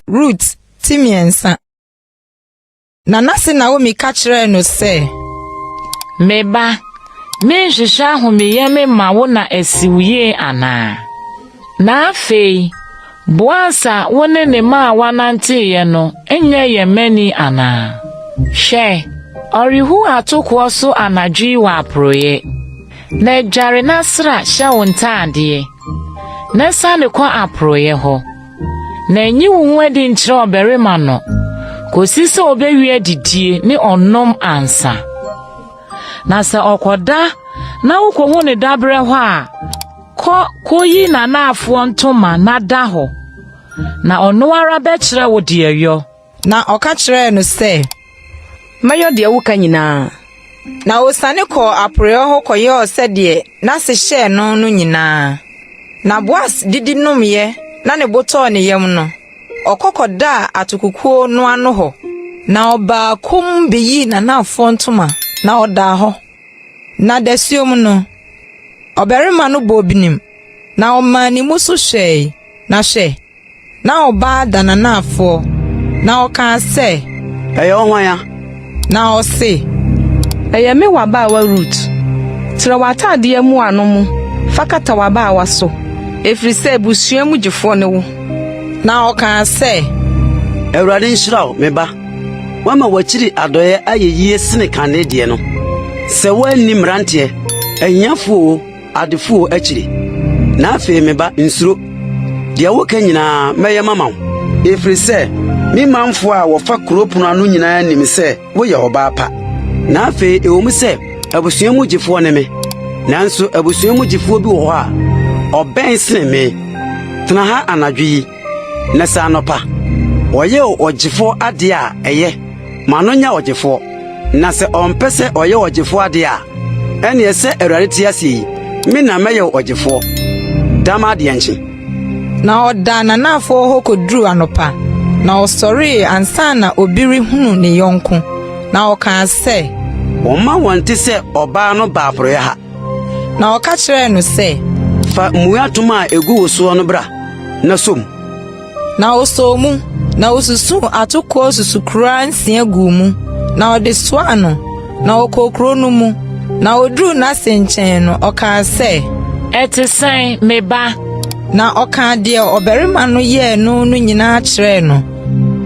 Rut ti mmiɛnsa. Na n'ase Naomi ka kyerɛɛ no sɛ. Me ba, menhwehwɛ ahomeyɛ me ma wo na asi wo yie anaa? Na afei, Boas a wo ne ne mmaawa nanteeɛ no nyɛ yɛn mani anaa? Hwɛ, ɔrehu atokoɔ so anadwo yi wɔ aporɔeɛ. Na dware na sra hyɛ wo ntaadeɛ, na siane kɔ aporɔeɛ hɔ, na nyi wo ho adi nkyerɛ ɔbarima no kɔsi sɛ ɔbɛwie adidie ne ɔnom ansa. Na sɛ ɔkɔda na wokɔhu no daberɛ hɔ a, Kɔ koyi n'anaafoɔ ntoma na da hɔ, na ɔno ara bɛkyerɛ wo deɛ yɔ. Na ɔka kyerɛɛ no sɛ, Mɛyɔ deɛ woka nyinaa. Na ɔsiane kɔɔ aporeeɛ hɔ kɔyɔɔ sɛdeɛ n'ase hyɛɛ no no nyinaa. Na Boas didi nomeeɛ na ne bo tɔɔ ne yam no, ɔkɔ kɔdaa atokokuo no ano hɔ. Na ɔbaa komm bɛyii n'anaafoɔ ntoma na ɔdaa hɔ. Na dasuom no, ɔbarima no bɔɔ binim, na ɔmaa ne mu so hwɛe, na hwɛ! na ɔbaa da n'anaafoɔ, na ɔkaa sɛ, Ɛyɛ wo hwan a? Na ɔse, Ɛyɛ me w'abaawa Rut, trɛ w'ataadeɛ mmoano mu fa kata w'abaawa so, ɛfiri sɛ abusua mu gyefoɔ ne wo. Na ɔkaa sɛ. Awurade nhyira wo, me ba. Woama w'akyiri adɔeɛ ayɛ yie sene kan ne deɛ no. Sɛ woanni mmeranteɛ, ahiafo oo, adefo oo akyiri. Na afei me ba, nsuro. Deɛ woka nyinaa, mɛyɛ mama wo. Ɛfiri sɛ me manfo a wɔfa kuro pono ano nyinaa nim sɛ woyɛ ɔbaa pa. Na afei ɛwom sɛ abusua mu gyefoɔ ne me, nanso abusua mu gyefoɔ bi wɔ hɔ a ɔbɛn sene me. Tena ha anadwo yi Na sɛ anɔpa ɔyɛ ɔgyefoɔ adeɛ a, ɛyɛ, ma no nyɛ ɔgyefoɔ. Na sɛ ɔmpɛ sɛ ɔyɛ ɔgyefoɔ adeɛ a, ɛnneɛ sɛ Awurade te ase yi, me na mɛyɛ wo ɔgyefoɔ, da m'adeɛ nkye. Na ɔdaa n'anafoɔ hɔ kɔduruu anɔpa, na ɔsɔree ansa na obi rehunu ne yɔnko, na ɔkaa sɛ. Wɔmma wɔnte sɛ ɔbaa no baa porɔeɛ ha. Na ɔka kyerɛɛ no sɛ, Fa mmuei atom a egu wo soɔ no bra na sɔ mu. Na ɔsɔɔ mu, na osusuu atokoɔ susukoraa nsia guu mu, na ɔde soaa no, na ɔkɔɔ kuro no mu. Na oduruu n'ase nkyɛn no, ɔkaa sɛ, Ɛte sɛn, me ba? Na ɔkaa deɛ ɔbarima no yɛɛ no no nyinaa kyerɛɛ no,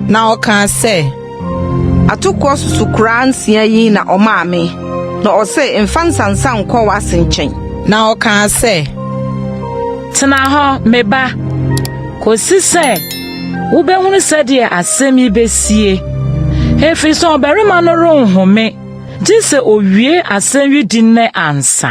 na ɔkaa sɛ. Atokoɔ susukoraa nsia yi na ɔmaa me, na ɔse mfa nsansa nkɔ w'ase nkyɛn. Na ɔkaa sɛ, Tena hɔ, me ba, kɔsi sɛ wobɛhunu sɛdeɛ asɛm yi bɛsie, ɛfiri sɛ ɔbarima no renhome gye sɛ ɔwie asɛm yi di nnɛ ansa.